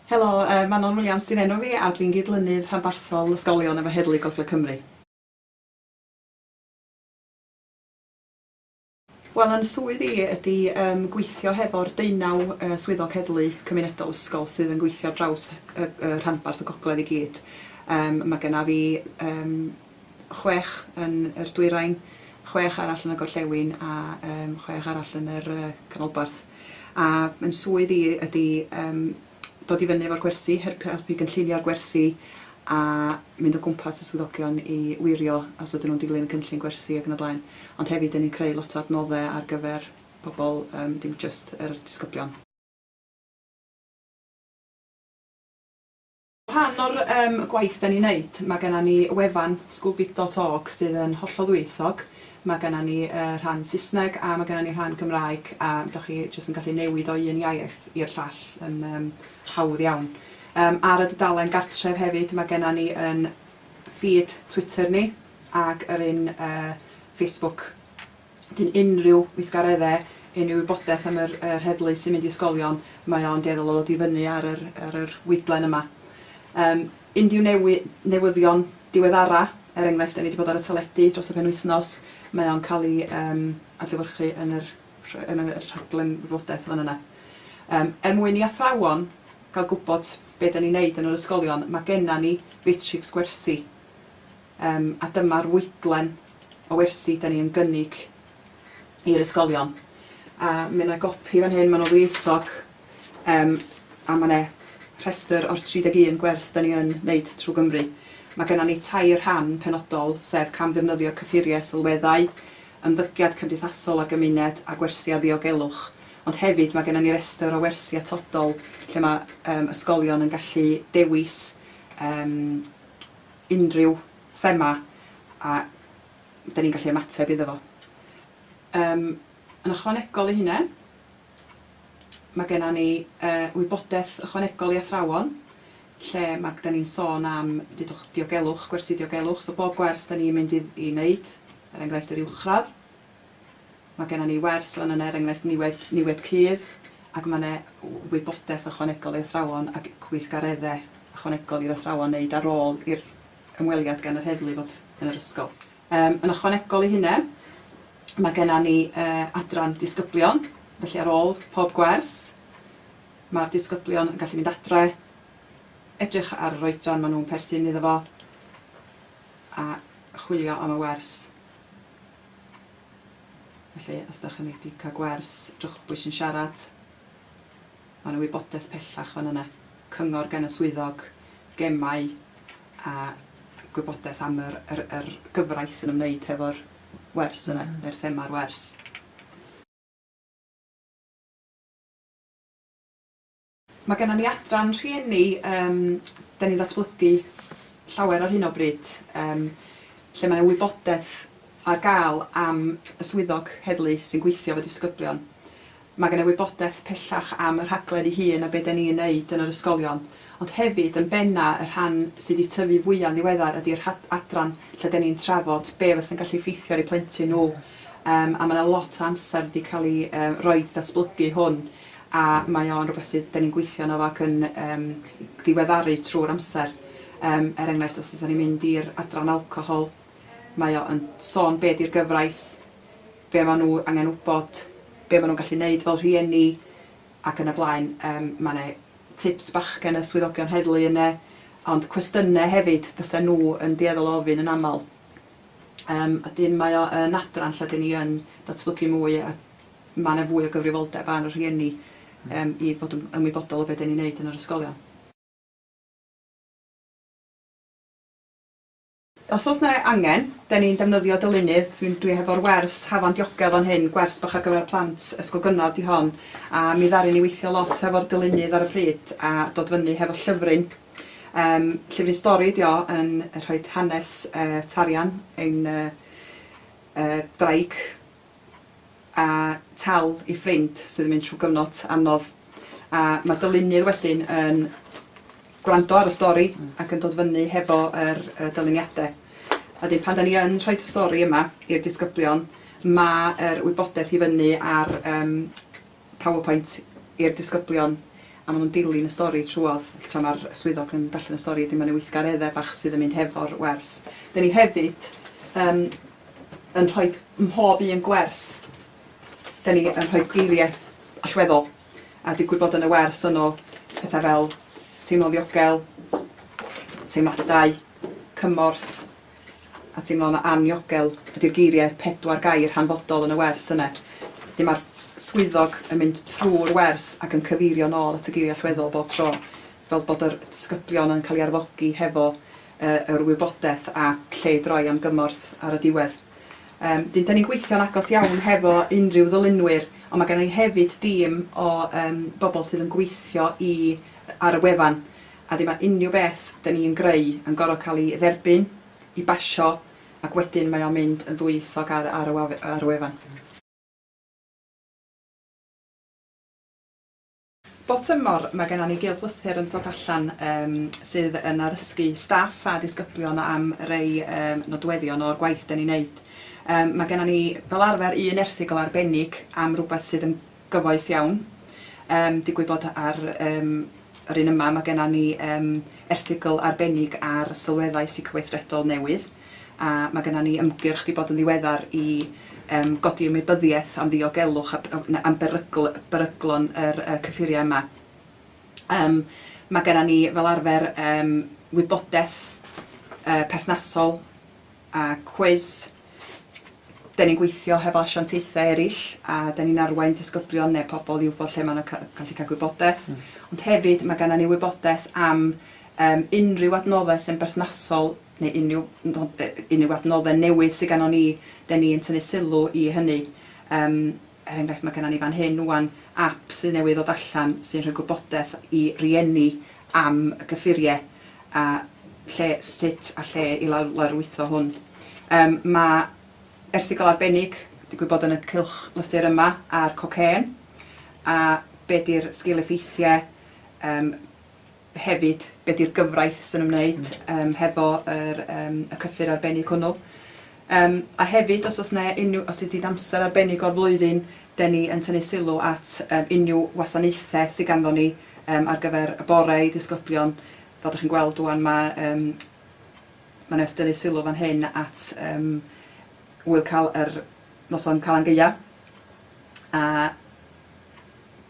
Helo, yy Manon Williams 'di'n enw fi a dwi'n gydlynydd rhanbarthol ysgolion efo Heddlu Gogledd Cymru. Wel yn swydd i ydi yym gweithio hefo'r deunaw yy swyddog heddlu cymunedol ysgol sydd yn gweithio ar draws y y rhanbarth y gogledd i gyd. Yym ma' genna fi yym chwech yn yr dwyrain, chwech arall yn y gorllewin a yym chwech arall yn yr yy canolbarth. A yn swydd i ydi yym dod i fyny efo'r gwersi, helpu helpu gynllunio'r gwersi a mynd o gwmpas y swyddogion i wirio os ydyn nhw'n dilyn y cynllun gwersi ac yn y blaen. Ond hefyd 'dyn ni'n creu lot o adnodde ar gyfer pobl yym dim jyst yr disgyblion. Rhan o'r yym gwaith 'dan ni'n neud ma' gennan ni wefan schoolbit dot org sydd yn hollol ddwyieithog Mae genna ni y rhan Saesneg a mae genna ni rhan Gymraeg a dach chi jyst yn gallu newid o un iaith i'r llall yn yym hawdd iawn. Yym ar y dudalen gartref hefyd mae genna ni yn feed Twitter ni ac yr un yy Facebook. Wedyn unrhyw weithgaredde, unrhyw wybodaeth am yr yr heddlu sy'n mynd i ysgolion mae o'n dueddol o ddod i fyny ar yr ar yr weithdlen yma. Yym. Unrhyw newyddion diweddara', er enghraifft, 'da ni 'di bod ar y teledu dros y penwythnos', mae o'n cael ei yym adlewyrchu yn yr rh- yn y rhaglen wybodaeth fan yna. Yym er mwyn i athrawon gael gwybod be' 'da ni'n neud yn yr ysgolion, ma' genna ni fatrics gwersi, yym a dyma'r fwydlen o wersi 'da ni yn gynnig i'r ysgolion. A ma' 'na gopi fan hyn, ma'n o ddwyieithog. Yym, a ma' 'ne rhestr o'r 31 gwers 'dan ni yn neud trw Gymru. Ma' gennan ni tair rhan penodol, sef camddefnyddio cyffurie sylweddau, ymddygiad cymdeithasol a gymuned, a gwersi a ddiogelwch. Ond hefyd ma' gennan ni restr o wersi atodol lle ma' yym ysgolion yn gallu dewis yym unrhyw thema a 'dan ni'n gallu ymateb iddo fo. Yym, yn ychwanegol i hynne, Mae genna ni wybodaeth ychwanegol i athrawon lle ma' gyda ni'n sôn am dudwch diogelwch, gwersi diogelwch, so bob gwers da ni'n mynd i wneud, er enghraifft yr uwchradd, ma' genna ni wers fan yna er enghraifft niwed niwed cudd ac ma' 'na wybodaeth ychwanegol i athrawon ac gweithgaredde ychwanegol i'r athrawon wneud ar ôl i'r ymweliad gan yr heddlu fod yn yr ysgol. Yn ychwanegol i hynna, mae gennym ni adran disgyblion, felly ar ôl pob gwers, mae'r disgyblion yn gallu mynd adre, edrych ar yr oedran maen nhw'n perthyn iddo fo, a chwilio am y wers. Felly, os ydych chi wedi cael gwers, drwchbwys yn siarad. Mae 'na wybodaeth pellach fan yna, cyngor gan y swyddog, gemau a gwybodaeth am yr yr yr gyfraith yn ymwneud hefo'r wers yna, neu'r thema'r wers. Mae genna ni adran rhieni yym 'dan ni'n ddatblygu llawer ar hyn o bryd yym lle mae 'na wybodaeth ar gael am y swyddog heddlu sy'n gweithio efo disgyblion Mae gen i wybodaeth pellach am y rhaglen ei hun a be dan ni'n neud yn yr ysgolion, ond hefyd yn benna y rhan sy di tyfu fwya'n ddiweddar ydi'r rhad- adran lle dan ni'n trafod be fasa'n gallu effeithio ar eu plentyn nhw yym a mae na lot o amser di cael ei yy roid i ddatblygu hwn a mae o'n rwbeth sydd dan ni'n gweithio arno fo ac yn yym diweddaru trwy'r amser yym er enghraifft os ysa ni'n mynd i'r adran alcohol mae o yn sôn be di'r gyfraith be maen nhw angen wybod, be maen nhw'n gallu wneud fel rhieni ac yn y blaen. Yym mae 'na tips bach gen y swyddogion heddlu yna, ond cwestiynau hefyd fysa nhw yn dueddol o ofyn yn aml. Yym a 'dyn mae o yn adran lle 'dyn ni yn datblygu mwy a mae 'na fwy o gyfrifoldeb ar y rhieni yym i fod yn ymwybodol o be 'dyn ni'n wneud yn yr ysgolion. Os oes 'na angen, 'den ni'n defnyddio dylunydd, dwi'n dwi hefo'r wers hafan diogel fan hyn, gwers bach ar gyfer plant ysgol gynradd 'di hon, a mi ddaru ni weithio lot hefo'r dylunydd ar y pryd a dod fyny hefo llyfryn, yym llyfryn stori ydi o yn rhoid hanes yy tarian ein yy yy ddraig. a tal ei ffrind sydd yn mynd trwy gyfnod anodd a mae dy lunydd wedyn yn gwrando ar y stori ac yn dod fyny hefo yr yy dyluniade. A wedyn pan 'dan ni yn rhoid y stori yma i'r disgyblion ma' yr wybodaeth i fyny ar yym PowerPoint i'r disgyblion a maen nhw'n dilyn y stori trwodd, felly tra mae'r swyddog yn darllen y stori wedyn mae yna weithgareddau bach sydd yn mynd hefo'r wers. Dyn ni hefyd yym yn rhoi mhob un gwers dyn ni yn rhoi geiriau allweddol a digwydd bod yn y wers yno pethau fel teimlo'n ddiogel, teimladau, cymorth, a teimlo'n anniogel ydy'r geiriau pedwar gair hanfodol yn y wers yna. Wedyn mae'r swyddog yn mynd trwy'r wers ac yn cyfeirio nôl at y geiriau allweddol bob tro, fel bod yr disgyblion yn cael ei arfogi hefo yr wybodaeth a lle i droi am gymorth ar y diwedd. Yym, dyn, 'da ni'n gweithio'n agos iawn hefo unrhyw ddylunwyr, ond mae genna i hefyd dîm o yym bobl sydd yn gweithio i ar y wefan. a dim a unrhyw beth dyn ni yn greu yn gorfod cael ei dderbyn, i basio, ac wedyn mae o'n mynd yn ddwyieithog ar ar y ar y wefan. Bob tymor mae genna ni gylch lythyr yn dod allan yym sydd yn arysgu staff a disgyblion am rei yym nodweddion o'r gwaith dyn ni'n neud. Yym mae genna ni fel arfer un erthygl arbennig am rywbeth sydd yn gyfoes iawn. Yym, digwydd bod ar yym yr un yma mae genna ni yym erthygl arbennig ar sylweddau seicoweithredol newydd, a mae genna ni ymgyrch 'di bod yn ddiweddar i yym godi ymwybyddiaeth am ddiogelwch a b- na am berygl- beryglon yr yy cyffuriau yma. Yym, mae genna ni fel arfer yym wybodaeth yy perthnasol, a cwis. Dan ni'n gweithio hefo asiantaethau eraill a dan ni'n arwain disgyblion neu pobl i wybod lle maen nhw'n gallu cael gwybodaeth. Ond hefyd mae gennym ni wybodaeth am yym unrhyw adnoddau sy'n berthnasol neu unrhyw nod- yy unrhyw adnoddau newydd sydd gennym ni, dan ni'n tynnu sylw i hynny. Yym. Er enghraifft, mae gennym ni fan hyn ŵan ap sydd newydd ddod allan sy'n rhoi gwybodaeth i rieni am y cyffuriau a lle, sut a lle i lawrlwytho hwn. Yym, mae erthygl arbennig, digwydd bod yn y cylch lythyr yma, ar cocên a be 'di'r sgil-effeithiau, yym, hefyd be di'r gyfraith sy'n ymwneud yym hefo yr yym y cyffur arbennig hwnnw. Yym a hefyd os o's 'ne unryw os ydi'n amser arbennig o'r flwyddyn 'den ni yn tynnu sylw at yym unryw wasanaethe sy ganddon ni yym ar gyfer y bore i ddisgyblion fel 'dach chi'n gweld ŵan ma' yym ma' Nest dynnu sylw fan hyn at yym ŵyl cal yr noson Calan Gaea a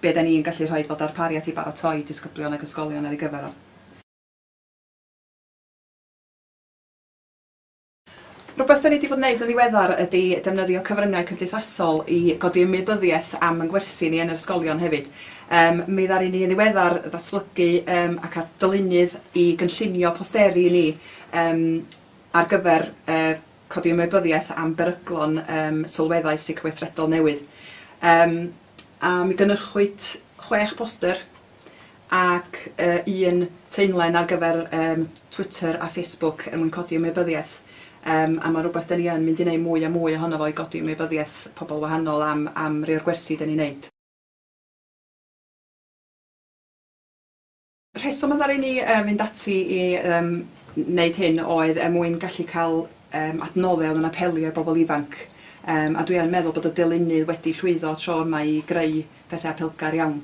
Be da ni'n gallu rhoid fel darpariaeth i baratoi disgyblion ac ysgolion ar ei gyfer o? Rhywbeth da ni di bod yn neud yn ddiweddar ydi defnyddio cyfryngau cymdeithasol i godi ymwybyddiaeth am yn gwersi ni yn yr ysgolion hefyd. Yym mi ddaru ni yn ddiweddar ddatblygu yym ac ar dylunnydd i gynllunio posteri ni yym ar gyfer yy Codi ymwybyddiaeth am beryglon ym sylweddau psychoweithredol newydd. Yym a mi gynyrchwyd chwech boster ac yy un teunlen ar gyfer yym Twitter a Facebook er mwyn codi ymwybyddiaeth yym a ma' rwbeth 'den ni yn mynd i neud mwy a mwy ohono fo i godi ymwybyddiaeth pobl wahanol am am rei o'r gwersi 'den ni'n neud. Rheswm y ddaru ni fynd ati i wneud hyn oedd er mwyn gallu cael adnoddau oedd yn apelio i bobl ifanc, a dwi yn meddwl bod y deulynydd wedi llwyddo tro yma i greu pethau apelgar iawn.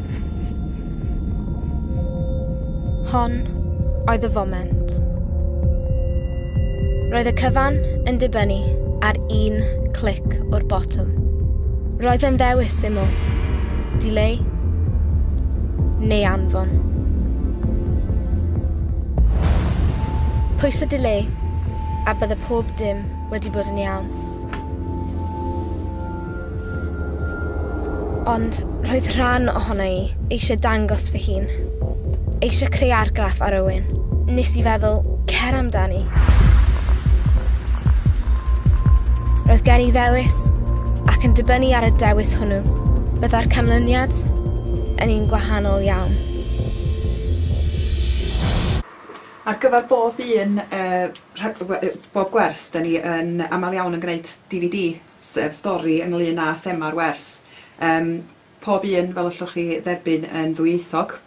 Hon oedd y foment. Roedd y cyfan yn dibynnu ar un clic o'r botwm. Roedd yn ddewis syml, dileu neu anfon. Pwysa dileu a bydde pob dim wedi bod yn iawn. Ond roedd rhan ohona i eisiau dangos fy hun. Eisiau creu argraff ar Owen. Nes i feddwl, cer amdani. Roedd gen i ddewis, ac yn dibynnu ar y dewis hwnnw, byddai'r canlyniad yn un gwahanol iawn. Ar gyfer bob un, bob gwers, 'da ni yn aml iawn yn gwneud DVD. sef stori ynglŷn â thema'r wers. Yym, pob un, fel allwch chi dderbyn, yn ddwyieithog.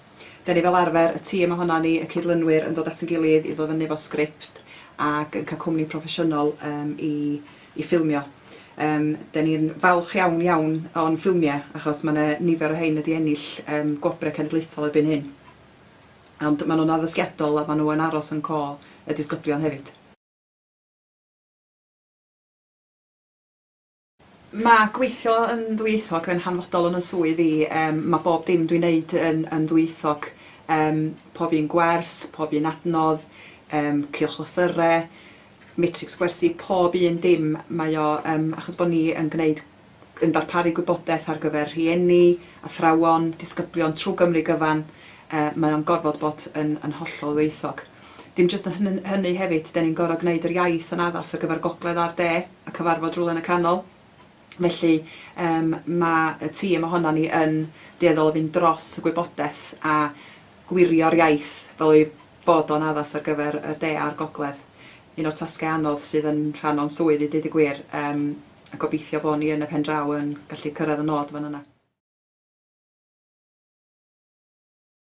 Dan ni fel arfer, y tîm ohonan ni, y cydlynwyr, yn dod at ein gilydd i ddod fyny efo sgript ac yn cael cwmni proffesiynol yym i i ffilmio. Yym, dan ni'n falch iawn, iawn o'n ffilmiau achos mae 'na nifer o rhain wedi ennill yym gwobrau cenedlaethol erbyn hyn. Ond maen nhw'n addysgiadol a maen nhw yn aros yn co y disgyblion hefyd. Mae gweithio yn ddwyieithog yn hanfodol yn 'y swydd i, yym mae bob dim dwi'n neud yn yn ddwyieithog, yym pob un gwers, pob un adnodd, yym cylchlythyre, matrics gwersi, pob un dim, mae o yym achos bod ni yn gneud yn darparu gwybodaeth ar gyfer rhieni, athrawon, disgyblion trwy Gymru gyfan, yy mae o'n gorfod bod yn yn hollol ddwyieithog. Dim jyst yn hynny hefyd, 'den ni'n gor'o' gneud yr iaith yn addas ar gyfer gogledd a'r de, a cyfarfod rywle yn y canol. Felly yym ma' y tîm ohonon ni yn dueddol o fynd dros y gwybodeth a gwirio'r iaith fel ei fod o'n addas ar gyfer y de a'r gogledd. Un o'r tasge anodd sydd yn rhan o'n swydd i deud y gwir, yym a gobeithio bo' ni yn y pen draw yn gallu cyrraedd y nod fan yna.